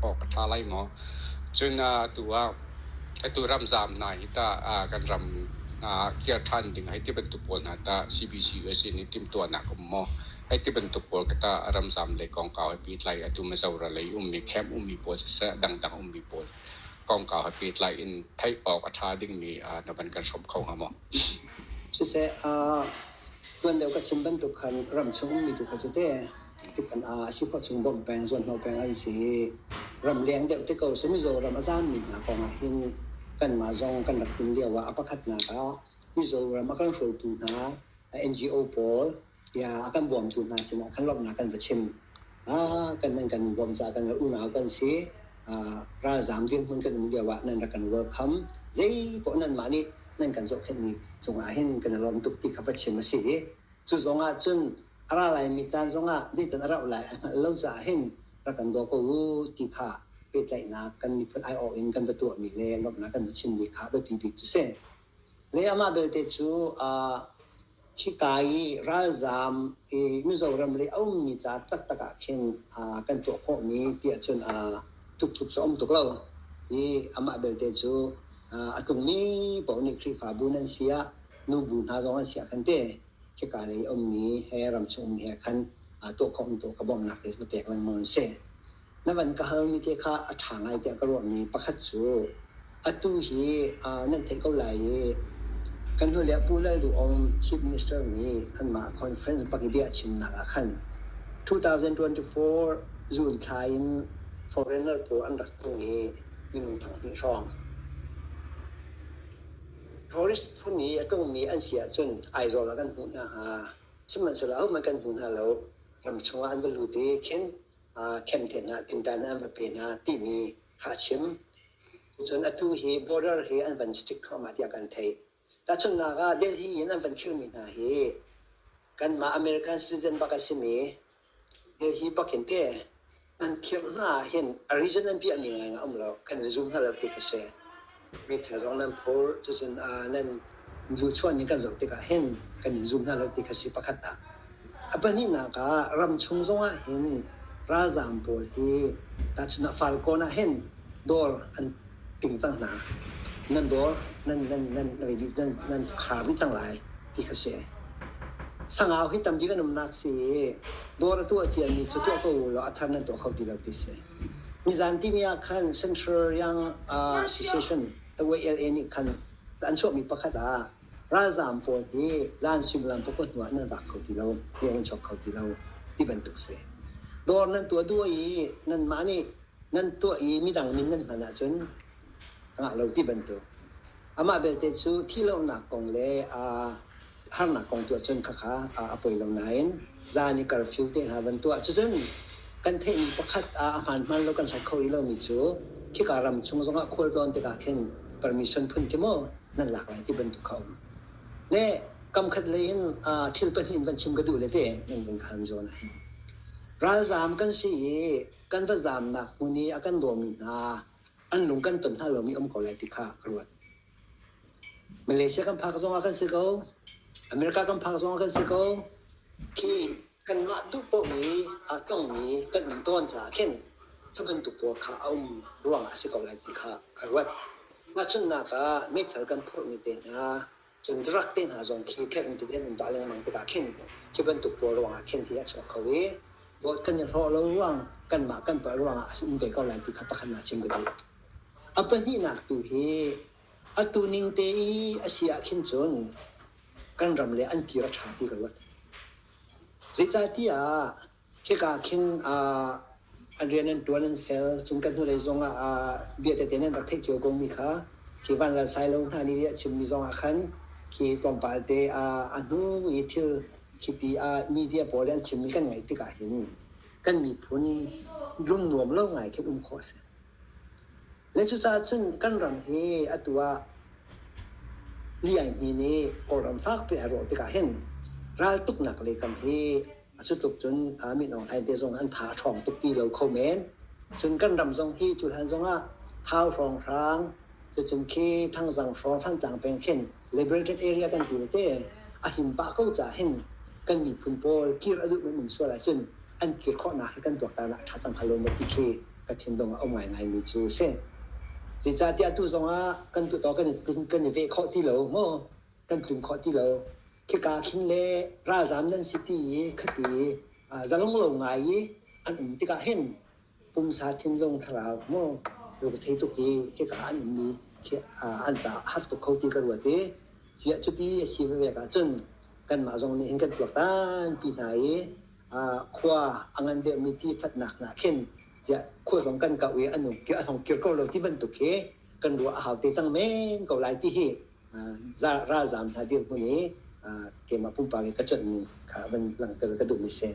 Aw ka tha lai maw. Cun atu ah atu ramzaam hna hi tah kan ram kir than ding hi ti bantuk pawl hna tah CBC USA nih timhtuahnak um maw? Hi ti bantuk pawl kha tah ramzaam le kongkau he pehtlai atu Mizoram lei ummi camp ummi pawl siseh dangdang ummi pawl kongkau he pehtlai in theih awk a tha dingmi na van kan hrawm kho hnga maw? Siseh tuan deuh ka chim bantuk khan ramchung ummi tu kha cu teh Tutan ah a si khawh chung bawmh peng, zuanhnawh peng an si. Ramleng deuh te ko si mizaw ram a zaam mi hna kong ah hin kanmah zong kan rak inn lio ah a pakhatnak ah Mizoram a kan hruaitu hna NGO pawl ya a kan bawmtu hna sinah kan lawmhnak kan va chim. Ah kan nan kan bawm caah kan unau kan si. Ah ralzaam dirhmun kan um lio ah nan rak kan welcome. Zei poh nanmah nih nan kan zohkhenh ni cung ah hin kan i lawm tuk ti kha va chim a si i Cu zong ahcun a ra laimi caan zongah zeicah a rauh lai a hngalh lo caah hin rak kan daw ko u ti kha pehtlaihnak kan miphun aiawh in kan va tuahmi le lawmhnak kan va chimmi kha a biapi bik cu si. Lei amah belte cu khika i ralzaam i Mizoram lei a ummi ca taktak ah khin kan tuah khawhmi ti ahcun tuktuk cu a um tuk lo i amah belte cu a tlungmi paoh nih Khrihfabu nan si ah nubu hna zong an siah khan te khika lei ummi he ramchung ummi he khan tuah khawh tu ka bawmhnak te ka pek lengmang an si na van ka halmi te kha a ṭha ngai tiah ka ruahmi pakhat cu atu hi nan theih ko lai i kan hnu le Pu Lal Duh Aung Chief Minister nih anmah conference pakibia chimnak ah khan 2024 June thla in foreigner pawl an rak tlung i minung thanghnih hrawng tourist phun i a tlungmi an si ahcun Aizawl ah kan hmuh hna hnga. Sihmanhsehlaw ahohmanh kan hmu hna lo. Ram chungah an va lut i khin khem te hna, tinṭan an va pe hna timi kha a chim. Cun atu hi border hi an van stick thluahmah tiah kan theih. Tahchunhnak ah Delhi in an van khirhmi hna hi kanmah American citizen bak a simi Hi bakin te an khirh hna ah hin a reason an piahmi ngaingai a um lo. Kan in zum hna lo tik a si. Meithal zong nan phur, cucun aa nan luchuan nih kan zoh tikah hin kan in zum hna lo tik a si pakhat ah. A pahnihnak ah ramchung zongah hin ralzaam pawl hi tahchun ah Falkawn ah hin dawr an ṭum cang hna. Nan dawr nan nan nan rili nan nan khar dih cang lai ti kha si. Sangau hi tam bik an umnak si i dawr a tuah ciami cu tuah ko u law a thar nan tuah kho ti lo ti si. Nizan timi ah khan Central Young uh, Association WLA nih khan an chuahmi pakhat ah ralzaam pawl hi zan suimilam pakua hnu ah nan vak kho ti lo, rian an chuak kho ti lo ti bantuk si. Dawr nan tuah duh i nanmah nih nan tuah i midang min nan hman ahcun ngah lo ti bantuk amah belte cu thih lonak kong le aa harnak kong tuah cun khakha a poi lo nain zan i curfew te hna van tuah cucun kan theihmi pakhat a hmaan hmaan lo kan hlat kho rih lomi cu khika ram chung zongah khual tlawn tikah khin permission phun khi maw nan lak lai ti bantuk kha um le kamkhat lei in thil pahnih in kan chim ka duh le te nan vun khaan zawn ahhin ralzaam kan si i kan va zaamnak hmun i a kan dawmi hna an lung kan ton hna lomi um ko lai ti kha ka ruat. Malaysia kan phak zongah kan si ko, America kan phak zongah kan si ko, khi kanmah duhpohmi a tongmi kan ning tawn caah khin tu bantuk pawl kha a um ruangah a si ko lai ti kha ka ruat. Tahchunhnak ah, meithal kan phurhmi te hna, Cun Drug te hna zong khi phek in tiden in dah lengmang tikah khin hi bantuk pawl ruangah khin hi a chuak kho i dawt kan i hrawh lo ruang kanmah kan palh ruangah a um ve ko lai ti kha pakhat naa chim ka duh. A pahnihnak tu hi atu ning te i a si ah khin cun kan ram le an kir a ṭha ti ka ruat. Zeicahtiah Khika khin ah an rian an ṭuan an fel. Cun kan hnulei zongah ah bia tete nan rak theih cio komi kha khi Van Lal Sailo hna nih a chimmi zongah khan khi tlawmpal te ah a hnu i thil khiti ah media pawl nih an chimmi kan ngaih tikah hin kan miphun lungnuam lo ngai khin um khawh a si. Le cucaah cun kan ram hi atu ah Lian Hni nih Kawlram fakpi a rawh tikah hin raltuknak lei kam hi A cutluk cun min Aung Hlaing te zong an tha a ṭhawng tuk ti lo kho men. Cun kan ram zong hi cu hlan zong ah Thau hrawng hrang, cucun khi Thangzang hrawng Thantlang peng khin liberated area kan ti tete a him pah ko caah hin kan miphun pawl kir a duh menmen sual ahcun an kir khawhnak hi kan tuaktanah ṭha cang hnga ti khi ka thinlung a um ngaingaimi cu a si. Zeicahtiah atu zongah kan tutawk kan i veh khawh ti lo maw? Kan tlun khawh ti lo. Khika khin le ralzam nan si ti i khati zalong lo ngai i an um tikah hin pumsa thinlung thlarau maw rung thei tuk i khika an ummi khi an caah har tuk kho ti ka ruat i ciah cuti a si vevek ahcun kanmah zong nih hin kan tuaktanpi hna i khua a ngan deuhmi ti thatnak hna khin tiah khua zong kan kauh i an um a hong kir ko lo ti bantuk hi kan ruah a hau te cang men ko lai ti hi ralzaam hna dirhmun i keimah pumpak i ka ṭanhning kha van langhter ka duhmi si.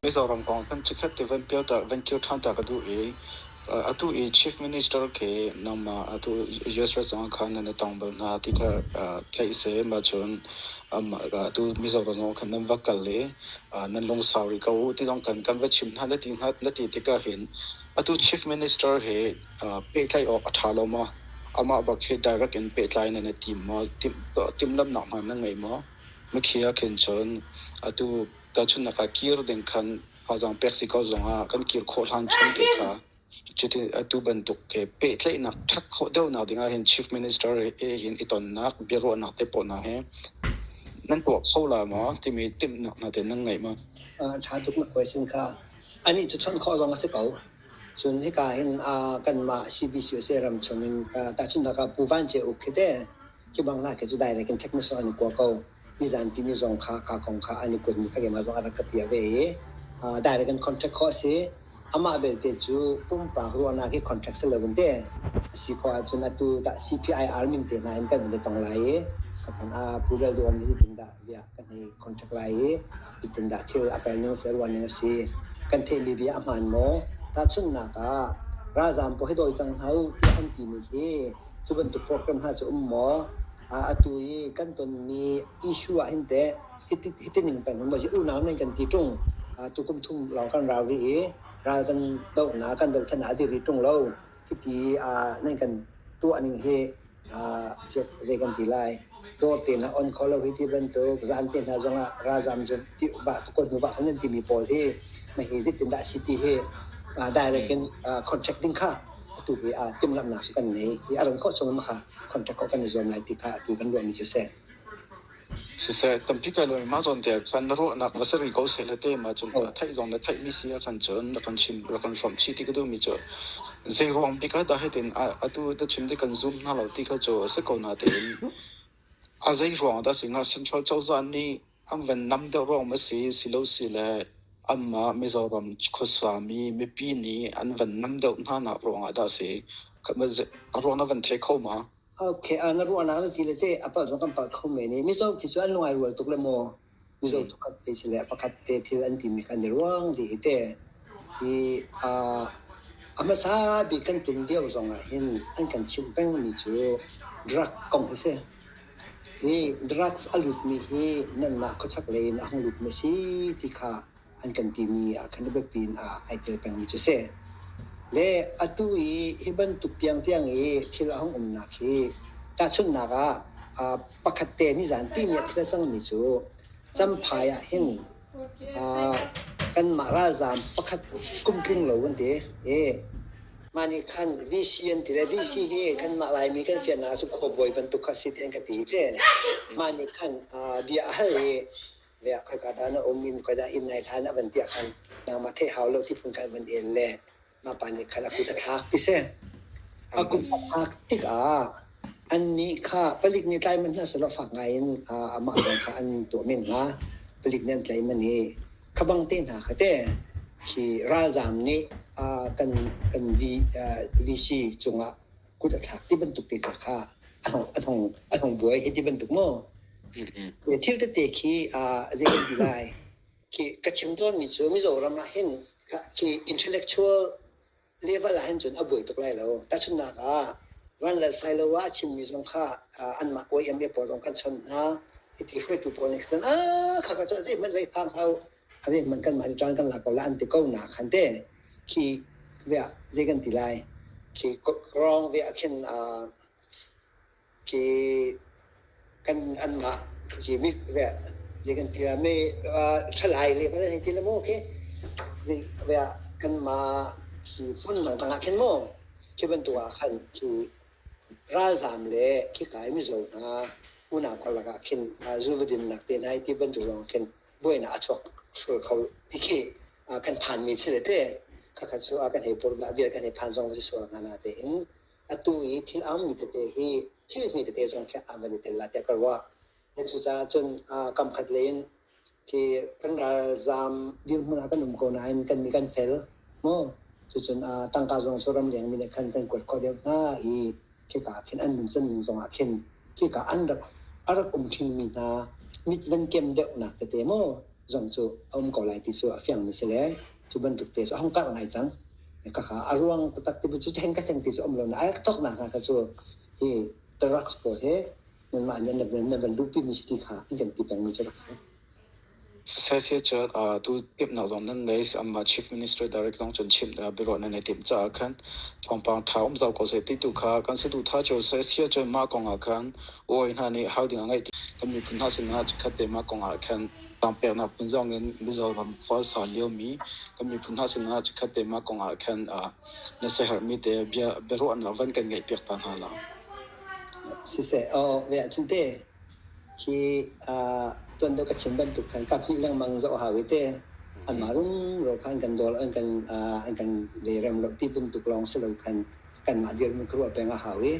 Mizoram kong kan cikhat ti van pialter van kil ṭhanta ka duh i atu i chief minister ke nangmah atu US rajang khan nan tong bal hna ti kha theih se ma cun atu Mizoram zong khan nan va kal i nan lungsau rih ko ti zong kan kan va chim hna lati hna lati tikah hin atu chief minister he pehtlaih awk a ṭha lo maw? Amah bak hi direct in pehtlai nan i tim maw? Timh, timhlamhnak hmanh na ngei maw? Mikhi ahkhin cun atu tahchunhnak ah kir ding khan thazaang pek si ko zongah kan kir khawh hlan chung te kha cuti atu bantuk ke pehtlaihnak ṭhat khawh deuhnak ding ahhin Chief Minister he hin i tonnak biaruahnak te pawl hna hi nan tuah kho la maw timi timhnak hna te nan ngei maw? A ṭha tuknak question kha anih cu chawnh khawh zong a si ko. Cun hika hin uh, kanmah CBCUSA ram chungin uh, tahchunhnak ah Pu Van Ce Uk khi te khi bang na ke cu direct in technus an kuwa ko nizan ti ni zong kha ka kong kha an i kuat mi kha ke ma zong arak ka pia ve i uh, direct in contract kho asi amah belte cu pumpak ruahnak hi contract se loin te asi kho ahcun atu dah CPIR min te na hin kan in tong lai i sapan a pu rel duan hi tin dah bia kan hei contact lai i zeitindah thil a pel ning seh ruah ning a si kan theihmi bia a hmaan maw tahchunhnak ah ralzaam puai dawi cang hau tiah an timi hi cu bantuk program hna cu um maw atu i kan tonmi issue ah hin teh hitining pen um maw unau nan kan ti tung tukum thum lawng kan ralri i ral kan dohnak kan doh than ah a diri tung lo Hiti nan kan tuahning hi zei kan ti lai. Dawr tein a on kho lo hi ti bantuk zan te hna zong ah ralzam cu ti bah tukon nu bah nan timi pawl hi ma hi zitin dah si ti hi direct in contact ding kha atu hi timhlamhnak kan nei i a ran kho chung ma kha contact kho kan i zuam lai ti kha atu kan ruah mi cu si. Siseh, tampi kai lawm mah zawn te ah khan na ruahnak va ser ko seh le te ma cu theih zong le theih mi si ah khan cun rak kan chim rak kan hrawm chih ti ka duh mi cu zei ruang bik ah dah hi tin atu te chim ti kan zoom hna lo ti kha cu a si ko na tein a zei ruang dah si nga Central cozah nih an van nam deuh ruang ma si si lo si le amma Mizoram khuasa mi mipi nih an van nam deuh hna nak ruang ah dah si a ruang na van thei kho ma Okay, uh, na ruahnak na ti le te a palh zong kan palh kho men i mizo khi cu an lungai rual tuk le maw mizo tuk kan te si le pakhat te thil an ti mi kan i ruang di hi te i uh, a hmasa bik kan tum lio zong ah hin an kan chimh peng mi cu drug kong hi si i drugs a lut mi hi nan mah khuachak lei in a hung lut mi si ti kha an kan timi ah khan le biapi in ah ai tel pengmi cu si. Le atu i hi bantuk tiang tiang i thil a hung umnak hi tahchunhnak ah uh, pakhat te ni zan timi a thil a cangmi cu Champhai ah hin uh, kanmah ralzaam pakhat kum tling lo an ti e mah nih khan VC an ti le VC hi kanmah Laimi kan fiannak ah cu khuabawi bantuk kha si tiang ka ti te mah nih khan uh, bia a hal i Le a khoika dah na um i mukai dah inn nai hlan a van tiah khan nangmah theih hau lo ti phun khan van el le mapa nih khan a kut a thlak ti si. A kut a thlak tikah annih kha palik nih tlai manh hna selaw fak ngai in amah hna kha an tuah men hnga. Palik nih an tlai man i khabang te hna kha te hi ralzaam nih kan VC cungah kut a thlak ti bantuk te hna kha a hong buai hi ti bantuk maw. Thil tete khi zei kan ti lai. Khi ka chim tawnmi cu Mizoram ah hin khi intellectual level ah hin cun a buai tuk lai lo. Tahchunhnak ah Van Lal Sailoa a chimmi zong kha anmah OEM pawl zong kan chawnh hna. Hiti hruaitu pawl nih khan kha ka cu zeihmanh vai phang hau Ane man kan mah caan kan lak ko la an ti ko na khan te khi vea ze kan ti lai khi rong vea khin khi kan an mah khi mi vea ze kan ti la me thalai le ba hei ti la mo ke ze vea kan ma khi pun mang tanga khin mo khi ban tu ah khan khi ralzam le khi kai mizo hna unau kor laka khin zu vadin nak te nai ti ban tu rong khin buainak a chuak sual kho ti khi kan phanmi si le te khakha cu a kan hei pordah vial kan hei phan zong si sual ngana te in atu i thil am mi tete hi thil mi tete zong khi am le tel la te ka wa ne chu cha chun kam khat lein ki kan ral zam dir mun kan um ko nain kan ni kan fel mo chu chun tangka zong su ram leng mi ne khan kan kwat ko deuh na i khika ah khin an nuncan ning zongah khin khika an rak a rak um ṭhin mi hna mit nan kem deuhnak tete maw zong cu a um ko lai ti cu a fiang mi si le cu bantuk te cu a hong karh ngai cang kakha a ruang taktak ti bu cu hen ka hleng ti cu um lo na a rak thok nak hna kha cu hi drugs pawl hi nanmah nih na van lupi mi si ti kha an kan ti peng mi cu rak si Saiseh cu atu timhnak zong nan ngei. Amah Chief Minister Direct zong cun chimh a biaruah nan i timh caah khan thawngpang ṭha um zau ko seh ti tu kha kan si duh ttha cio seh. Siah cun mah kong ah khan uai hna nih hal ding a ngeih kan miphun hna sinah chikkhat te mah kong ah khan tangpeknak phun zong in Mizo ram khualsa liomi kan miphun hna sinah chikkhat te mah kong ah khan na siaherhmi te bia biaruahnak van kan ngeih piak ta hna la. Siseh, aw ve ahcun teh. Hi uh, tuan deuh ka chim bantuk khan ka phih lengmang zoh hau i te anmah runro khan kan dol an kan uh, an kan le rem lo ti bantuk lawng si lo khan kanmah dirhmun ka ruah peng a hau i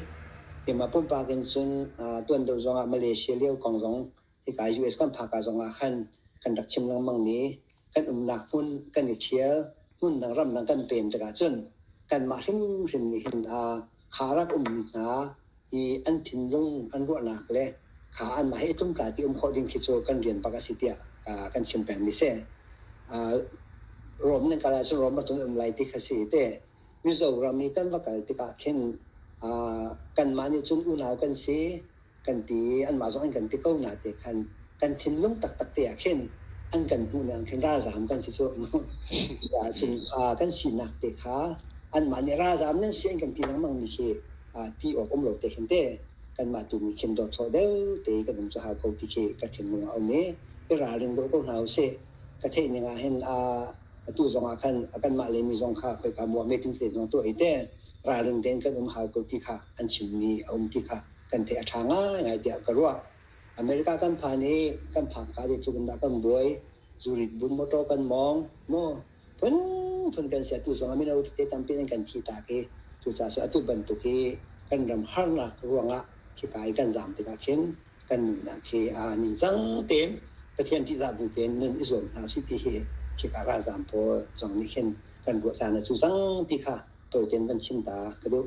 keimah pumpak in cun uh, tuan deuh zongah Malaysia lio kong zong hika US kan phaka zongah khan kan rak chim lengmang mi kan umnak hmun kan i ṭhial hmun dang ram dang kan pen tikah cun kanmah hrimhrim nih hin kha rak ummi hna hi an thinlung an ruahnak le kha anmah he i tlumkalpi um khawh ding khi cu kan rian bak a si tiah kan chim pengmi si. Rom nan kal ahcun Rom atun um lai ti kha si te Mizoram i kan va kal tikah khin kanmah nih cun unau kan si kan ti anmah zong an kan ti ko na te khan kan thinlung taktak te ah khin an kan hmuh ning khin ralzaam kan si cu cun kha kan sinak te kha anmah nih ralzaam nan si an kan ti lengmang mi khi ti awk um lo te khin te kanmah tu nih khin dawt thaw deu te kan um cu hau ko ti khi ka thinlung a um i i ralring dawh ko hna u sih ka theih ning ah hin a atu zong ah khan kanmah le mi zong kha khoi ka muam meeting te zong tu ai te ralring ten kan um hau ko ti kha an chim mi a um ti kha kan tei a ṭha ngaingai tiah ka ruah. America kan phan i kan phang ka dik tluk in dah kan buai. Zurit bun motor kan mawng. Maw phunphun kan siatu zong a mino te tampi in kan thi tak i cucaah su atu bantuk hi kan ram harnak ruangah khika i kan zaam tikah khin kan nunnak hi aa ningcang tein Pathian ṭihzah bu tein nun i zuam hna usih ti hi khika ralzaam pawl zong nih khin kan ruah caan a cu cang ti kha tawi tein kan chim ta ka duh.